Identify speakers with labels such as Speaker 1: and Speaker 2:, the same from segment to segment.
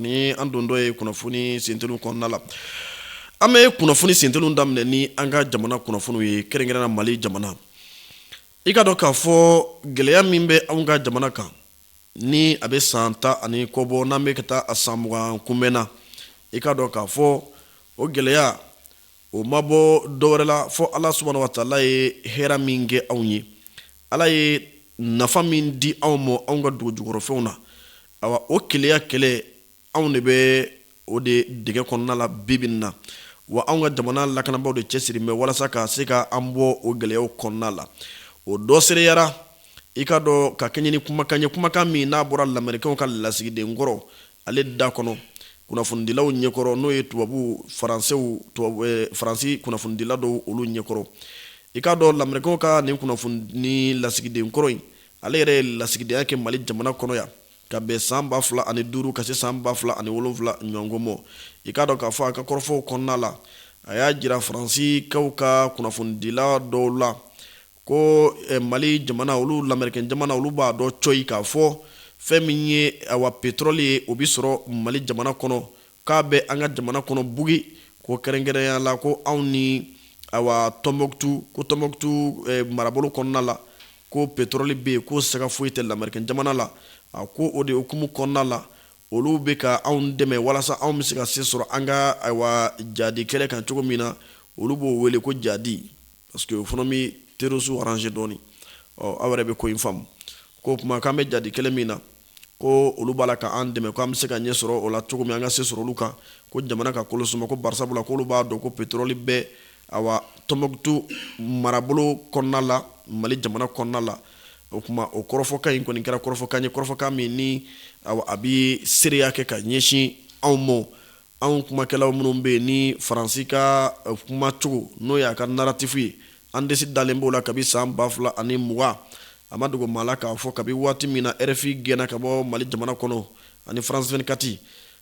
Speaker 1: Ni an don dɔ ye kunnafoni sentelu kɔnɔna la an bɛ kunnafoni sentelu daminɛ ni an ka jamana kunnafoni ye kɛrɛnkɛrɛnna mali jamana i k'a dɔn k'a fɔ gɛlɛya min bɛ an ka jamana kan ni a bɛ san tan ani kɔ bɔ n'an bɛ ka taa a san mugan kunbɛn na i k'a dɔn k'a fɔ o gɛlɛya o ma bɔ dɔ wɛrɛ la fɔ ala subahana wa taala ye hɛrɛ min kɛ anw ye ala ye nafa min di anw ma anw ka dugu jukɔrɔfɛnw na Awa o keleya kɛlɛ anw de bɛ o de dɛgɛ kɔnɔna la bi bi in na. Wa anw ka jamana lakanabaaw de cɛsirilen bɛ walasa ka se ka an bɔ o gɛlɛyaw kɔnɔna la. O dɔ seereyara, i k'a dɔn ka kɛɲɛ ni kumakan ye, kumakan min n'a bɔra lamɛrikenw ka lasigiden kɔrɔ, ale da kɔnɔ, kunnafonidilaw ɲɛkɔrɔ, n'o ye tubabu faransi, faransi kunnafonidila dɔw olu ɲɛkɔrɔ. I k'a dɔn lamɛrikenw ka nin kunnafoni lasigiden kɔrɔ in, ale yɛrɛ ye lasigidenya kɛ mali jamana kɔnɔ yan ka bɛn san ba fila ani duuru ka se san ba fila ani wolonwula ɲɔgɔn ma i k'a dɔn k'a fɔ a ka kɔrɔfɔw kɔnɔna la a y'a jira faransikaw ka kunnafonidila dɔw la ko eh, mali jamana olu lamɛrikɛn jamana olu b'a dɔn cɔyi k'a fɔ fɛn min ye awa petrɔli ye o bi sɔrɔ mali jamana kɔnɔ k'a bɛ an ka jamana kɔnɔ bugi ko kɛrɛnkɛrɛnya la ko anw ni awa tɔnbɔkutu ko tɔnbɔkutu eh, marabolo kɔnɔna la ko pétrole bɛ yen k'o siga foyi tɛ lamɛrikɛn jamana la, a ko o de hukumu kɔnɔna la, olu bɛ ka anw dɛmɛ walasa anw bɛ se ka se sɔrɔ an ka ayiwa jadi kɛlɛ kan cogo min na, olu b'o wele ko jadi parce que o fana bɛ terrorisiw arranger dɔɔni, ɔ aw yɛrɛ bɛ ko in faamu, k'o tuma k'an bɛ jadi kɛlɛ min na, ko olu b'a la k'an dɛmɛ ko an bɛ se ka ɲɛ sɔrɔ o la cogo min an ka se sɔrɔ olu kan ko jamana ka kolo suma ko bari sabu la k'olu b'a dɔn ko petroli bɛ awa tɔnbɔkutu marabolo kɔnɔna la mali jamana kɔnɔna la o tuma o kɔrɔfɔkan in kɔni kɛra kɔrɔfɔkan ye kɔrɔfɔkan min ni a bɛ seereya kɛ ka ɲɛsin anw ma anw kumakɛlaw minnu bɛ yen ni faransi ka eh, kumacogo n'o y'a ka naratifu ye an disi dalen b'o la kabi san ba fila ani mugan a ma dogo maa la k'a fɔ kabi waati min na rfi gɛnna ka bɔ mali jamana kɔnɔ ani france 24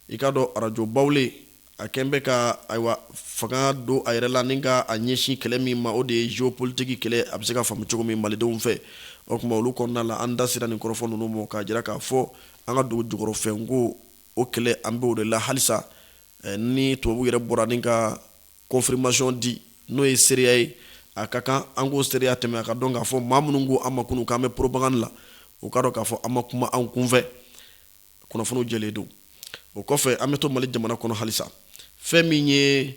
Speaker 1: i k'a dɔn arajo bawule a kɛn bɛ ka ayiwa fanga don a yɛrɛ la ni ka a ɲɛsin kɛlɛ min ma o de ye geopolitiki kɛlɛ a bɛ se ka faamu cogo min malidenw fɛ o tuma olu kɔnɔna la an da sera nin kɔrɔfɔ ninnu ma k'a jira k'a fɔ an ka dugu jukɔrɔfɛnko o kɛlɛ an bɛ o de la halisa ni tubabu yɛrɛ bɔra ni ka kɔnfirimasiyɔn di n'o ye seereya ye a ka kan an k'o seereya tɛmɛ a k'a dɔn k'a fɔ maa minnu ko an ma kunun k'an bɛ poropagandi la o k'a dɔn k'a fɔ an ma kuma an kunfɛ kunnafoniw jɛlen don o kɔfɛ an bɛ to mali jamana kɔnɔ halisa fɛn min ye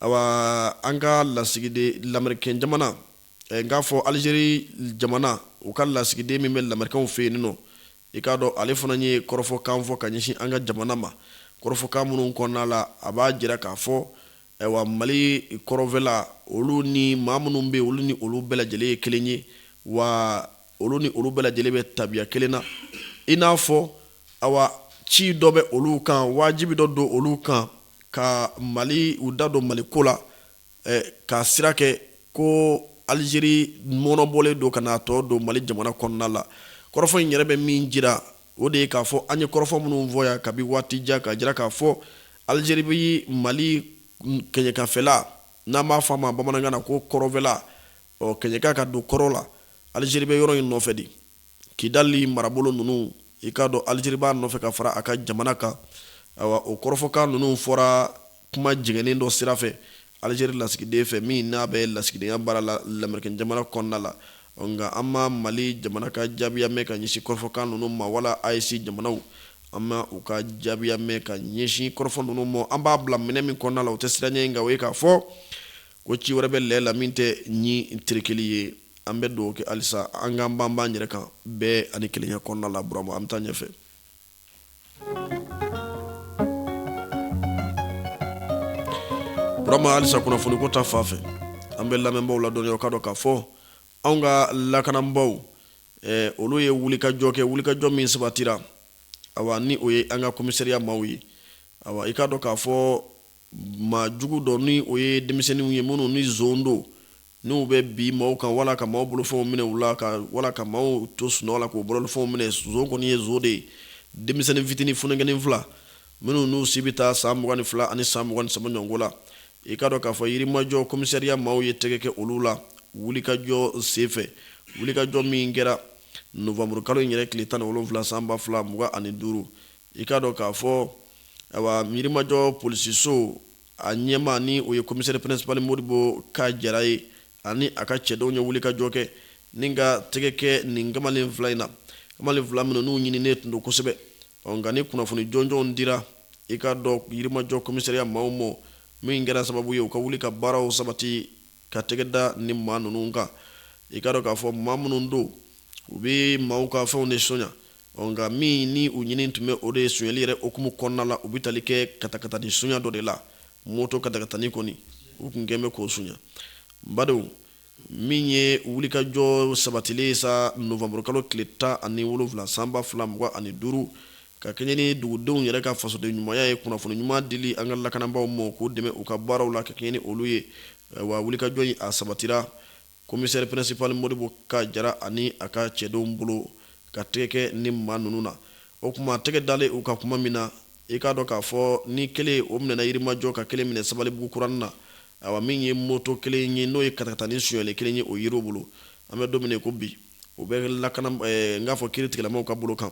Speaker 1: awa an ka lasigiden lamɛrikɛn jamana n k'a fɔ alizeri jamana u ka lasigiden min bɛ lamɛrikɛnw fɛ yen nin nɔ i k'a dɔn ale fana ye kɔrɔfɔkan fɔ ka ɲɛsin an ka jamana ma kɔrɔfɔkan minnu kɔnɔna la a b'a jira k'a fɔ ayiwa mali kɔrɔnfɛla olu ni maa minnu bɛ olu ni olu bɛɛ lajɛlen ye kelen ye wa olu ni olu bɛɛ lajɛlen bɛ tabiya kelen na i n'a fɔ awa ci dɔ bɛ olu kan wajibi dɔ don olu kan ka mali u da don mali ko la k'a sira kɛ ko alizeri mɔɔnɔbɔlen don ka n'a tɔ don mali jamana kɔnɔna la kɔrɔfɔ in yɛrɛ bɛ min jira o de ye k'a fɔ an ye kɔrɔfɔ minnu fɔ yan kabi waati jan k'a jira k'a fɔ alizeri bɛ mali kɛɲɛkafɛla n'an b'a fɔ a ma bamanankan na ko kɔrɔnfɛla ɔ kɛɲɛka ka don kɔrɔn la alizeri bɛ yɔrɔ in nɔfɛ de kidali marabolo ninnu i k'a dɔn alizeri b'a nɔfɛ k'a fara a ka jamana kan ayiwa o kɔrɔfɔkan ninnu fɔra kuma jɛngɛnnen dɔ sira fɛ alizeri lasigiden fɛ min n'a bɛ lasigidenya baara la lamerikin jamana kɔnɔna la nka an ma mali jamana ka jaabiya mɛn ka ɲɛsin kɔrɔfɔkan ninnu ma wala AES jamanaw an ma u ka jaabiya mɛn ka ɲɛsin kɔrɔfɔ ninnu ma an b'a bila minɛn min kɔnɔna la o tɛ siran ye nka o ye k'a fɔ ko ci wɛrɛ bɛ lɛ la min tɛ ɲin tɛrɛkɛli ye an bɛ dugawu kɛ halisa an k'an banban an yɛrɛ kan bɛn ani kelenya kɔnɔna la Burama an bɛ taa ɲɛfɛ. Burama halisa kunnafoni ko ta fan fɛ an bɛ lamɛnbaaw ladɔnniya u k'a dɔn k'a fɔ anw ka lakanabaaw eh, olu ye wulikajɔ kɛ wulikajɔ min sabatira awa ni o ye an ka komisariya maaw ye awa i k'a dɔn k'a fɔ maa jugu dɔ ni o ye denmisɛnninw ye minnu ni zon don N'u bɛ bin maaw kan wala ka maaw bolofɛnw minɛ u la ka wala ka maaw to sunɔgɔ la k'u bolofɛnw minɛ zon kɔni ye zon de ye denmisɛnnin fitinin funankɛnin fila minnu n'u si bɛ taa san mugan ni fila ani san mugan ni saba ɲɔgɔnko la i k'a dɔn k'a fɔ yirimajɔ komisariya maaw ye tɛgɛ kɛ olu la wulikajɔ senfɛ wulikajɔ min kɛra novanburukalo in yɛrɛ tile tan ni wolonwula san ba fila mugan ani duuru i k'a dɔn k'a fɔ ayiwa yirimajɔ polisiso a ɲɛmaa ni o ye komisɛri principal modibo ka jara ye ani a ka cɛdenw ye wulikajɔ kɛ ni ka tɛgɛ kɛ nin kamalen fila in na kamalen fila minnu n'u ɲininen tun don kosɛbɛ ɔ nka ni kunnafoni jɔnjɔnw dira i k'a dɔn yirimajɔ komisariya maaw ma min kɛra sababu ye u ka wuli ka baaraw sabati ka tɛgɛ da nin maa ninnu kan i k'a dɔn k'a fɔ maa minnu don u bɛ maaw ka fɛnw de sonya ɔ nka min ni u ɲini tun bɛ o de ye sonyali yɛrɛ hukumu kɔnɔna la u bɛ tali kɛ katakatani sonya dɔ de la moto katakatani kɔni u tun kɛn bɛ k'o sonya n badenw min ye wulikajɔ sabatilen sa novanburukalo tile tan ani wolonwula sanba fila mugan ani duuru Ka kɛɲɛ ni dugudenw yɛrɛ ka fasoden ɲumanya ye, kunnafoni ɲuman dili an ka lakanabaaw ma, k'u dɛmɛ u ka baaraw la ka kɛɲɛ ni olu ye, wa wulikajɔ in a sabatira Komisɛri Pɛrɛnsipali Modibo Ka Jara ani a ka cɛdenw bolo ka tɛgɛ kɛ nin maa ninnu na. O tuma tɛgɛ dalen u kan kuma min na, i k'a dɔn k'a fɔ ni kelen o minɛna Yirimajɔ ka kelen minɛ Sabalibugu kuranin na, ayiwa min ye moto kelen ye n'o ye katakatanin sonyali kelen ye o yera u bolo, an bɛ don min na i ko bi, o bɛ n k'a fɔ kiiri tigɛlamaw ka bolo kan.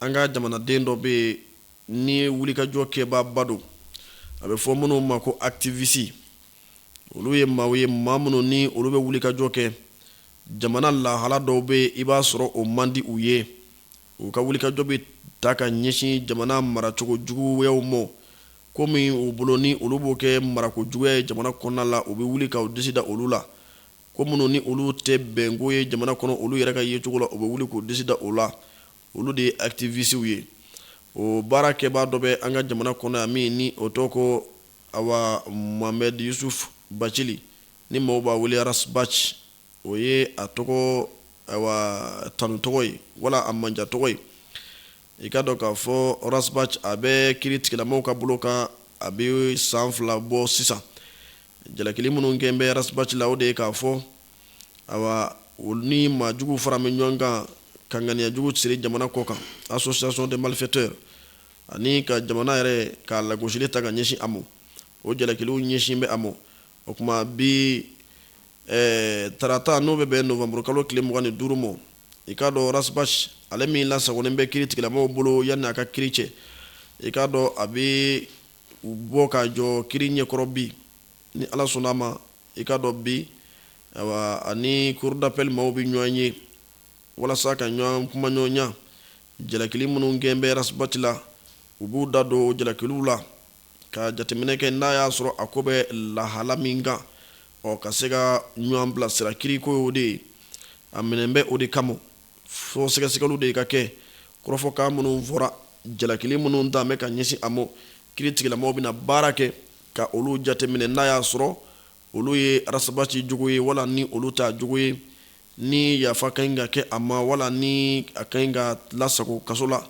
Speaker 1: An ka jamanaden dɔ bɛ yen ni wulikajɔ kɛbaaba don, a bɛ fɔ minnu ma ko activistes olu ye maaw ye maa minnu ni olu bɛ wulikajɔ kɛ jamana lahala dɔw bɛ yen i b'a sɔrɔ o man di u ye, u ka wulikajɔ bɛ ta ka ɲɛsin jamana maracogo juguyaw ma, ko min u bolo ni olu b'o kɛ marako juguya ye jamana kɔnɔna la u bɛ wuli ka u disi da olu la, ko minnu ni olu tɛ bɛnko ye jamana kɔnɔ olu yɛrɛ ka yecogo la u bɛ wuli k'u disi da o la, olu de ye activistes ye o baara kɛbaa dɔ bɛ an ka jamana kɔnɔ yan min ni o tɔgɔ ko awa Mohamed Yusuf Bacili ni maaw b'a wele Ras Bac o ye a tɔgɔ awa tanu tɔgɔ ye wala a manja tɔgɔ ye i k'a dɔn k'a fɔ Ras Bac a bɛ kiri tigilamaw ka bolo kan a bɛ san fila bɔ sisan jalakili minnu kɛn bɛ Ras Bac la o de ye k'a fɔ awa olu ni maajugu faran bɛ ɲɔgɔn kan ka ŋaniyajugu siri jamana kɔ kan association de malfaiteurs ani ka jamana yɛrɛ ka lagosili ta ka ɲɛsin a ma o jalakiliw ɲɛsin bɛ a ma o tuma bi tarata n'o bɛ bɛn novembre kalo tile mugan ni duuru ma i k'a dɔn Ras Bac ale min lasagolen bɛ kiri tigɛlamaw bolo yanni a ka kiri cɛ i k'a dɔn a bɛ bɔ ka jɔ kiri ɲɛkɔrɔ bi ni ala sɔnna a ma i k'a dɔn bi a ni cour d'appel maaw bɛ ɲɔgɔn ye walasa ka ɲɔgɔn kumaɲɔgɔnya jalakili minnu kɛn bɛ Ras Bac la u b'u da don jalakiliw la ka jateminɛ kɛ n'a y'a sɔrɔ a ko bɛ lahala min kan ɔ ka se ka ɲɔgɔn bilasira kiriko y'o de ye a minɛn bɛ o de kama fo sɛgɛsɛgɛli de ka kɛ kɔrɔfɔkan minnu fɔra jalakili minnu tan bɛ ka ɲɛsin a ma kiri tigilamaw bɛna baara kɛ ka olu jateminɛ n'a y'a sɔrɔ olu ye Ras Bac jogo ye wala ni olu t'a jogo ye ni yafa ka ɲi ka kɛ a ma wala ni a ka ɲi ka lasago kaso la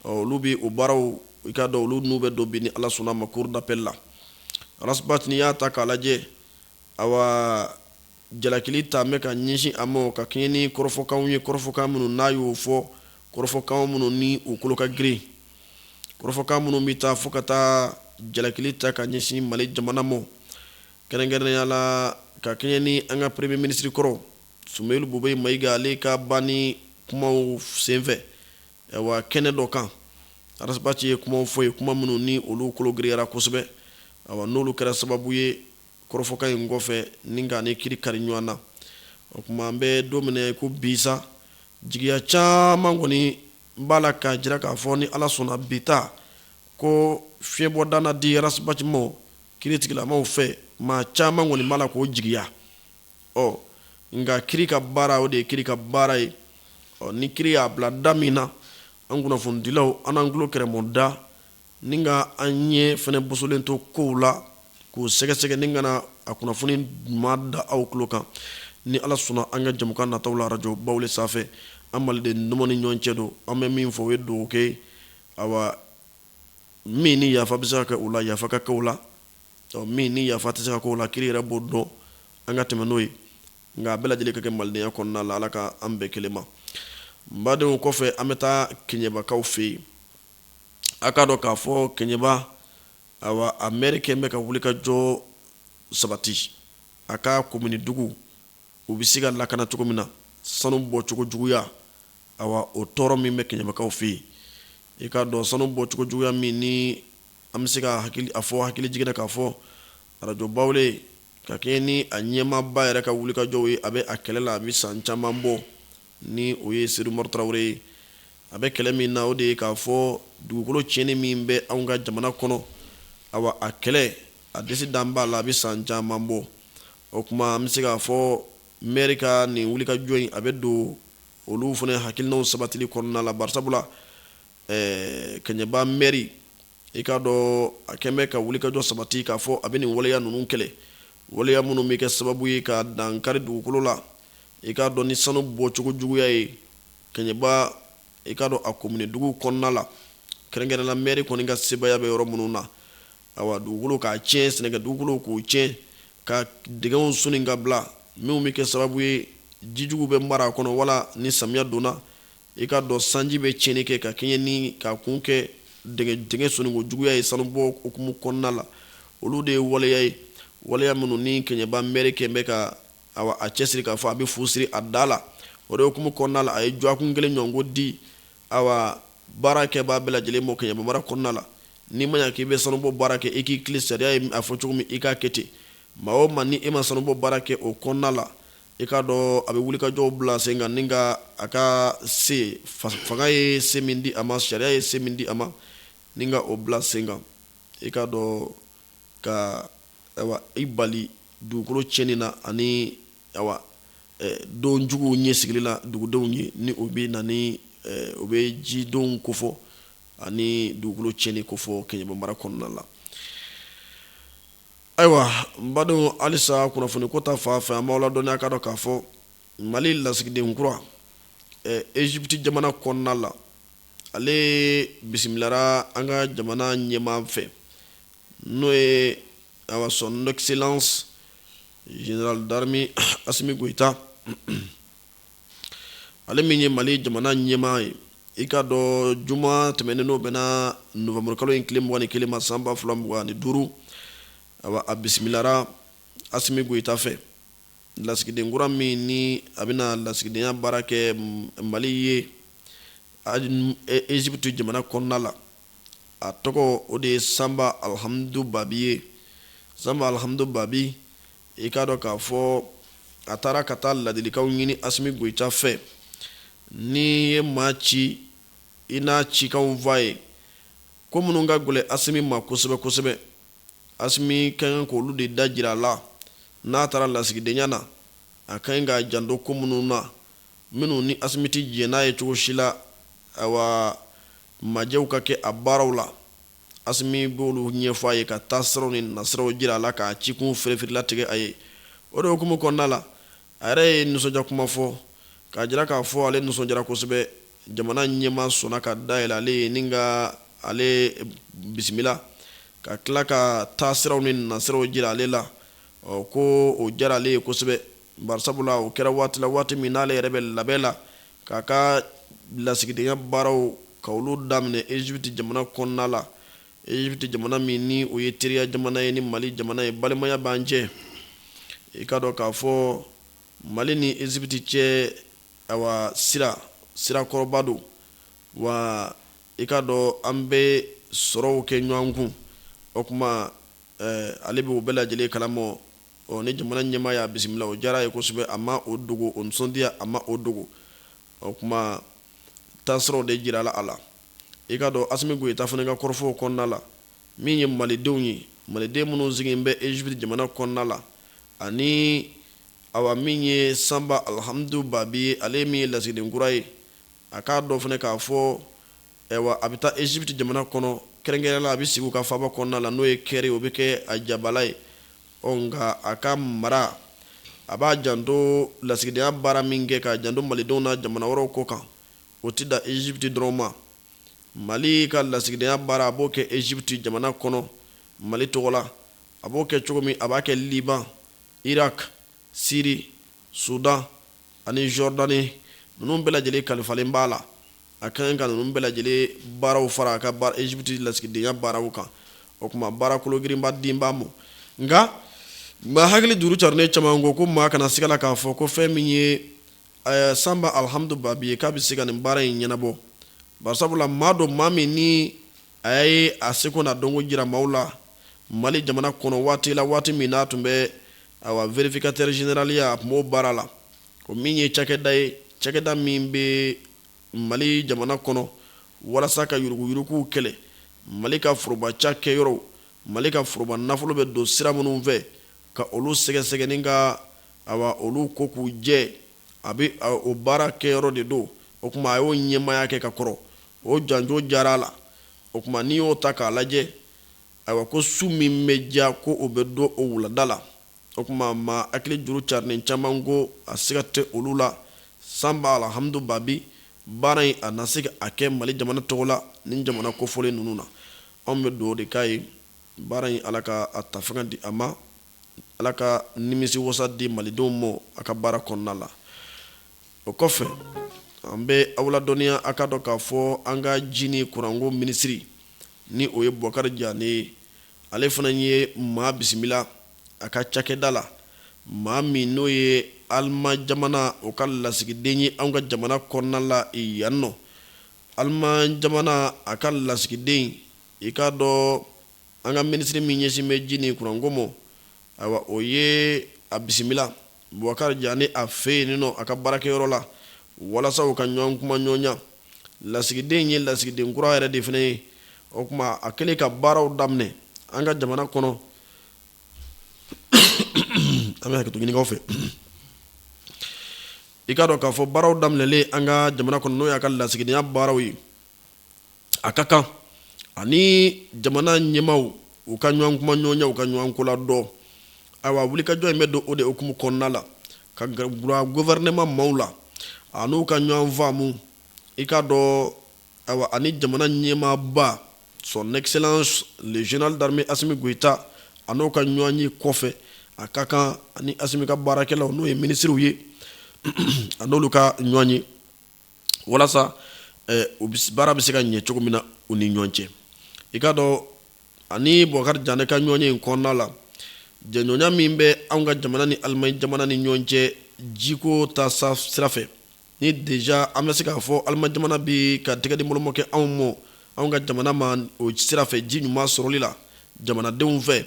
Speaker 1: olu bɛ o baaraw i k'a dɔn olu n'u bɛ don bi ni ala sɔnna ma cour d'appel la Ras Bac n'i y'a ta k'a lajɛ awa jalakili ta bɛ ka ɲɛsin a ma ka kɛɲɛ ni kɔrɔfɔkanw ye kɔrɔfɔkan minnu n'a y'o fɔ kɔrɔfɔkan minnu ni u kolo ka girin kɔrɔfɔkan minnu bɛ taa fo ka taa jalakili ta ka ɲɛsin mali jamana ma kɛrɛnkɛrɛnnenya la ka kɛɲɛ ni an ka premiye minisiri kɔrɔ sumeyilu bubɛyi mayiga ale ka banni kumaw senfɛ wa kɛnɛ dɔ kan arasibati ye kumaw fɔ yen kuma minnu ni olu kolo girinyara kosɛbɛ awa n'olu kɛra sababu ye Kɔrɔfɔkan in kɔfɛ ni ka a ni kiri kari ɲɔgɔn na. O tuma an bɛ don min na i ko bi sa, jigiya caman kɔni b'a la k'a jira k'a fɔ ni Ala sɔnna bi ta, ko fiɲɛbɔda na di Arasibati ma, kiri tigilamaw fɛ, maa caman kɔni b'a la k'o jigiya. Ɔ, nka kiri ka baara, o de ye kiri ka baara ye. Ɔ, ni kiri y'a bila da min na, an kunnafonidilaw, an n'an tulo kɛrɛmɔda, Ni ka an ɲɛ fana bosolen to kow la k'u sɛgɛsɛgɛ ni ka na a kunnafoni ɲuman da aw tulo kan ni ala sɔnna an ka jɛmukan nataw la arajo bawule sanfɛ an maliden ninnu ni ɲɔgɔn cɛ don an bɛ min fɔ o ye dugawu kɛ awa min ni yafa bɛ se ka kɛ o la yafa ka kɛ o la min ni yafa tɛ se ka kɛ o la kiri yɛrɛ b'o dɔn an ka tɛmɛ n'o ye nka a bɛɛ lajɛlen ka kɛ malidenya kɔnɔna la ala ka an bɛɛ kelen ma n badenw kɔfɛ an bɛ taa kɛɲɛbakaw fɛ yen a k'a dɔn k'a fɔ kɛɲɛba awa a mɛri kɛlen bɛ ka wulikajɔ sabati a ka komini duguw bɛ se ka lakana cogo min na sanu bɔcogo juguya awa o tɔɔrɔ min bɛ kɛɲɛbakaw fɛ yen i k'a dɔn sanu bɔcogo juguya min ni an bɛ se ka a fɔ hakili jiginna k'a fɔ arajo bawule ka kɛ ni a ɲɛmaaba yɛrɛ ka wulikajɔw ye a bɛ a kɛlɛ la a bɛ san caman bɔ ni o ye seyidu umaru tarawele ye A bɛ kɛlɛ min na o de ye k'a fɔ dugukolo tiɲɛni min bɛ anw ka jamana kɔnɔ awa a kɛlɛ a disi dan b'a la a bɛ san caman bɔ o tuma an bɛ se k'a fɔ mɛri ka nin wulikajɔ in a bɛ don olu fana hakilinaw sabatili kɔnɔna la barisabula ɛɛ kɛɲɛba mɛri i k'a dɔn a kɛlen bɛ ka wulikajɔ sabati k'a fɔ a bɛ nin waleya ninnu kɛlɛ waleya minnu bɛ kɛ sababu ye ka dankari dugukolo la i k'a dɔn ni sanu bɔcogo juguya ye Kɛɲɛba i k'a dɔn a komini dugu kɔnɔna la kɛrɛnkɛrɛnna mɛri kɔni ka sebaaya bɛ yɔrɔ minnu na awa dugukolo k'a tiɲɛ sɛnɛkɛ dugukolo k'u tiɲɛ ka dingɛw sen ka bila minnu bɛ kɛ sababu ye jijugu bɛ mara a kɔnɔ wala ni samiya donna i k'a dɔn sanji bɛ tiɲɛni kɛ ka kɛɲɛ ni k'a kun kɛ dingɛ senniko juguya ye sanubɔ hukumu kɔnɔna la olu de ye waleya ye waleya minnu ni kɛɲɛba mɛri kɛlen bɛ ka a cɛsiri k'a fɔ a bɛ fu siri a da la o de hukumu kɔnɔna la a ye dɔgɔkun kelen ɲɔgɔnko di awa baarakɛbaa bɛɛ lajɛlen ma Kɛɲɛba mara kɔnɔna la ni maa k'i bɛ sanubɔ baara kɛ i k'i tilen sariya ye a fɔ cogo min i k'a kɛ ten maa o maa ni e ma sanubɔ baara kɛ o kɔnɔna la i k'a dɔn a bɛ wulikajɔw bila sen kan ni ka a ka se fanga ye se min di a ma sariya ye se min di a ma ni ka o bila sen kan i k'a dɔn ka i bali dugukolo tiɲɛni na ani awa don jugu ɲɛsigili la dugudenw ye ni o bɛ na ni o bɛ jidon kofɔ ani dugukolo tiɲɛni kofɔ Kɛɲɛba mara kɔnɔna la ayiwa n badenw halisa kunnafoni ko ta fan fɛ an b'aw ladɔnniya k'a dɔn k'a fɔ Mali lasigiden kura Egypte jamana kɔnɔna la ale bisimilara an ka jamana ɲɛmaa fɛ n'o ye awa son excellence général d'armée Asimi Goyita ale min ye Mali jamana ɲɛmaa ye i k'a dɔn juma tɛmɛnen n'o bɛnna nowanburukalo in tile mugan ni kelen ma san ba fila mugan ni duuru awa a bisimilara Asimi Goyita fɛ Lasigiden kura min ni a bɛna lasigidenya baara kɛ Mali ye Egypte jamana kɔnɔna la, a tɔgɔ o de ye Sanba Alhamdu Babi ye. Sanba Alhamdu Babi, i k'a dɔn k'a fɔ a taara ka taa ladilikanw ɲini Asimi Goyita fɛ. N'i ye maa ci, i n'a cikanw fɔ a ye, ko minnu ka gɛlɛn Asimi ma kosɛbɛ kosɛbɛ, Asimi ka kan k'olu de da jira a la n'a taara lasigidenya na, a ka ɲi k'a janto ko minnu na, minnu ni Asimi tɛ jɛn n'a ye cogo si la, awa, majɛw ka kɛ a baaraw la. Asimi b'olu ɲɛfɔ a ye ka taasiraw ni nasiraw jira a la k'a cikun fereferelatigɛ a ye. O de hukumu kɔnɔna la, a yɛrɛ ye nisɔndiya kuma fɔ k'a jira k'a fɔ ale nisɔndiyara kosɛbɛ jamana ɲɛmaa sɔnna ka da yɛlɛ ale ye ni ka ale bisimila ka tila ka taasiraw ni nasiraw jira ale la ko o diyara ale ye kosɛbɛ bari sabu la o kɛra waati la waati min n'ale yɛrɛ bɛ labɛn la k'a ka lasigidenya baaraw ka olu daminɛ Egypte jamana kɔnɔna la Egypte jamana min ni o ye teriya jamana ye ni Mali jamana ye balimaya b'an cɛ i k'a dɔn k'a fɔ Mali ni Egypte cɛ awa sira sira kɔrɔba don wa i k'a dɔn an bɛ sɔrɔw kɛ ɲɔgɔn kun o tuma ale bɛ o bɛɛ lajɛlen kalama ɔ ni jamana ɲɛmaa y'a bisimila o diyara a ye kosɛbɛ a ma o dogo o nisɔndiya a ma o dogo o tuma taasiraw de jirala a la i k'a dɔn Asimi Goyita fana ka kɔrɔfɔw kɔnɔna la, min ye Malidenw ye, Maliden minnu sigilen bɛ Egypte jamana kɔnɔna la, ani awa min ye Sanba Alhamdu Babi ye, ale min ye lasigiden kura ye, a k'a dɔn fana k'a fɔ, ayiwa, a bɛ taa Egypte jamana kɔnɔ, kɛrɛnkɛrɛnnenya la, a bɛ sigi u ka faaba kɔnɔna la, n'o ye Kɛri, o bɛ kɛ a jabaala ye, ɔ nka a ka mara, a b'a janto lasigidenya baara min kɛ, k'a janto Malidenw na jamana wɛrɛw ko kan. o tɛ da Egypte dɔrɔn ma mali ka lasigidenya baara a b'o kɛ Egypte jamana kɔnɔ mali tɔgɔ la a b'o kɛ cogo min a b'a kɛ Liban Irak Syrie Soudan ani Jordanie ninnu bɛɛ lajɛlen kalifalen b'a la a ka kan ka ninnu bɛɛ lajɛlen baaraw fara a ka Egypte lasigidenya baaraw kan o tuma baara kologirinba de b'a ma nka maa hakili juru carilen caman ko ko maa kana siga a la k'a fɔ ko fɛn min ye sanba alhamdu babi ye k'a bɛ se ka nin baara in ɲɛnabɔ bari sabula maa don maa min ni a ye a seko n'a dɔnko jira maaw la mali jamana kɔnɔ waati la waati min n'a tun bɛ a vérificateur généraliya a tun b'o baara la o min ye cakɛda ye cakɛda min bɛ mali jamana kɔnɔ walasa ka yuruguyuruguw kɛlɛ mali ka foroba cakɛyɔrɔw mali ka foroba nafolo bɛ don sira minnu fɛ ka olu sɛgɛsɛgɛ ni ka Ayiwa olu ko k'u jɛ a bɛ o baarakɛyɔrɔ de don o tuma a y'o ɲɛmaaya kɛ ka kɔrɔ o janjo diyara a la o tuma n'i y'o ta k'a lajɛ ayiwa ko su min bɛ diya ko o bɛ dɔn o wulada la o tuma maa hakili juru carilen caman ko a siga tɛ olu la sanba alhamdu babi baara in a na se k'a kɛ mali jamana tɔgɔ la ni jamana kofɔlen ninnu na anw bɛ dugawu de k'a ye baara in ala ka a ta fanga di a ma Ala ka nimisi wasa di malidenw ma a ka baara kɔnɔna la o kɔfɛ an bɛ aw ladɔnniya a k'a dɔn k'a fɔ an ka ji ni kuranko minisiri ni o ye bubakari jane ye ale fana ye maa bisimila a ka cakɛda la maa min n'o ye alima jamana o ka lasigiden ye an ka jamana kɔnɔna la yan nɔ alima jamana a ka lasigiden i k'a dɔn an ka minisiri min ɲɛsin bɛ ji ni kuranko ma ayiwa o ye a bisimila bubakari jane a fɛ yen nɔ a ka baarakɛyɔrɔ la walasa u ka ɲɔgɔn kumaɲɔgɔnya lasigiden ye lasigiden kura yɛrɛ de fana ye o tuma a kɛlen ka baaraw daminɛ an ka jamana kɔnɔ an bɛ hakɛto ɲini aw fɛ i k'a dɔn k'a fɔ baaraw daminɛlen an ka jamana kɔnɔ n'o y'a ka lasigidenya baaraw ye a ka kan ani jamana ɲɛmaaw ka ɲɔgɔn kumaɲɔgɔnya u ka ɲɔgɔn kola dɔn ayiwa wulikajɔ in bɛ don o de hukumu kɔnɔna la ka gɔfɛrɛnaman maaw la a n'u ka ɲɔgɔn faamu i k'a dɔn ani jamana ɲɛmaaba son excellence le général d'armée asimi goyita a n'o ka ɲɔgɔn ye kɔfɛ a ka kan ani asimi ka baarakɛlaw n'o ye minisiriw ye a n'olu ka ɲɔgɔn ye walasa baara bɛ se ka ɲɛ cogo min na u ni ɲɔgɔn cɛ i k'a dɔn ani bukari jane ka ɲɔgɔn ye in kɔnɔna la jɛɲɔgɔnya min bɛ an ka jamana ni alimaɲi jamana ni ɲɔgɔn cɛ jiko taasira fɛ ni déjà an bɛ se k'a fɔ alimaɲi jamana bɛ ka tɛgɛ di boloma kɛ anw ma an ka jamana ma o sira fɛ ji ɲuman sɔrɔli la jamanadenw fɛ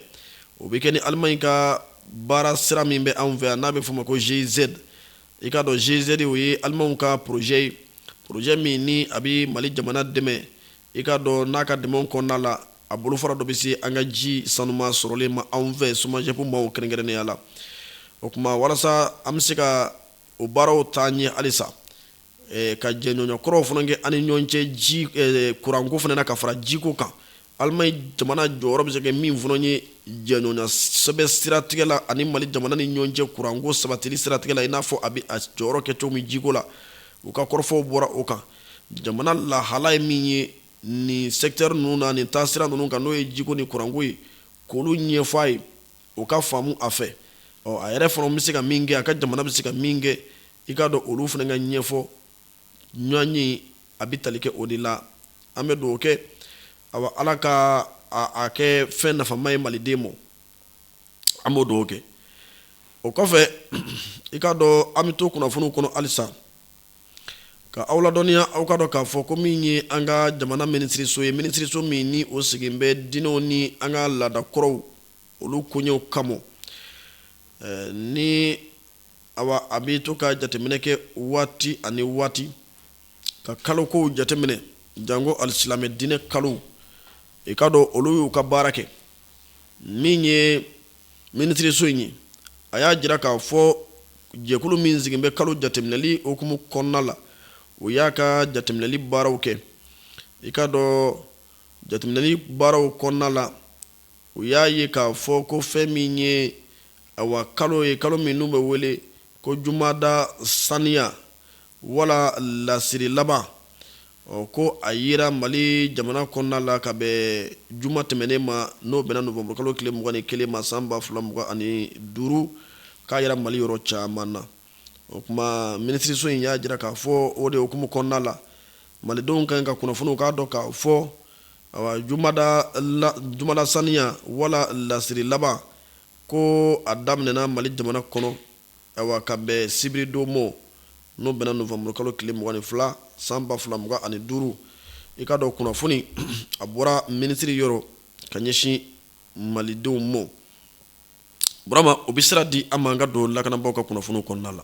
Speaker 1: o bɛ kɛ ni alimaɲi ka baara sira min bɛ anw fɛ yan n'a bɛ f'o ma ko GIZ i k'a dɔn GIZ o ye alimanw ka porozɛ ye porozɛ min ni a bɛ mali jamana dɛmɛ i k'a dɔn n'a ka dɛmɛ kɔnɔna la a bolofara dɔ bɛ se an ka ji sanuma sɔrɔlen ma anw fɛ SOMAGEP maaw kɛrɛnkɛrɛnnenya la o tuma walasa an bɛ se ka o baaraw taa ɲɛ halisa ka jɛɲɔgɔnya kuraw fana kɛ an ni ɲɔgɔn cɛ ji kuranko fana na ka fara jiko kan alimaɲi jamana jɔyɔrɔ bɛ se kɛ min fana ye jɛɲɔgɔnya sɛbɛn siratigɛ la ani mali jamana ni ɲɔgɔn cɛ kuranko sabatili siratigɛ la i n'a fɔ a bɛ a jɔyɔrɔ kɛ cogo min jiko la u ka kɔrɔfɔw bɔra o kan jamana lahala ye min ye nin sɛkitɛri ninnu na nin taasira ninnu kan n'o ye jiko ni kuranko ye k'olu ɲɛfɔ a ye o ka faamu a fɛ ɔ a yɛrɛ fana bɛ se ka min kɛ a ka jamana bɛ se ka min kɛ i k'a dɔn olu fana ka ɲɛfɔ ɲɔgɔn ye a bɛ tali kɛ o de la an bɛ dugawu kɛ awa ala ka a kɛ fɛn nafama ye maliden ma an b'o dugawu kɛ o kɔfɛ i k'a dɔn an bɛ to kunnafoni kɔnɔ halisa ka aw ladɔnniya aw ka dɔn k'a fɔ ko min ye an ka jamana minisiriso ye minisiriso min ni o sigilen bɛ diinɛw ni an ka laada kɔrɔw olu koɲɛw kama ni Awa a bɛ to ka jateminɛ kɛ waati ani waati ka kalokow jateminɛ janko alisilamɛ diinɛ kalo i k'a dɔn olu y'u ka baara kɛ min ye minisiriso in ye a y'a jira k'a fɔ jɛkulu min sigilen bɛ kalo jateminɛli hukumu kɔnɔna la o y'a ka jateminɛli baaraw kɛ i k'a dɔn jateminɛli baaraw kɔnɔna la u y'a ye k'a fɔ ko fɛn min ye Ayiwa kalo ye kalo min n'u bɛ wele ko jumada saniya wala lasiri laban ɔ ko a yera mali jamana kɔnɔna la ka bɛn juma tɛmɛnen ma n'o bɛnna nowanburukalo tile mugan ni kelen ma san ba fila mugan ani duuru k'a yera mali yɔrɔ caman na o tuma minisiriso in y'a jira k'a fɔ o de hukumu kɔnɔna la malidenw kan ka kunnafoni u k'a dɔn k'a fɔ ayiwa jumada saniya wala lasiri laban Ko a daminɛna mali jamana kɔnɔ ka bɛn sibiridon ma n'o bɛnna nowanburukalo tile mugan ni fila san ba fila mugan ani duuru i k'a dɔn kunnafoni a bɔra minisiri yɔrɔ ka ɲɛsin malidenw ma burama o bɛ sira di an ma an ka don lakanabagaw ka kunnafoni kɔnɔna la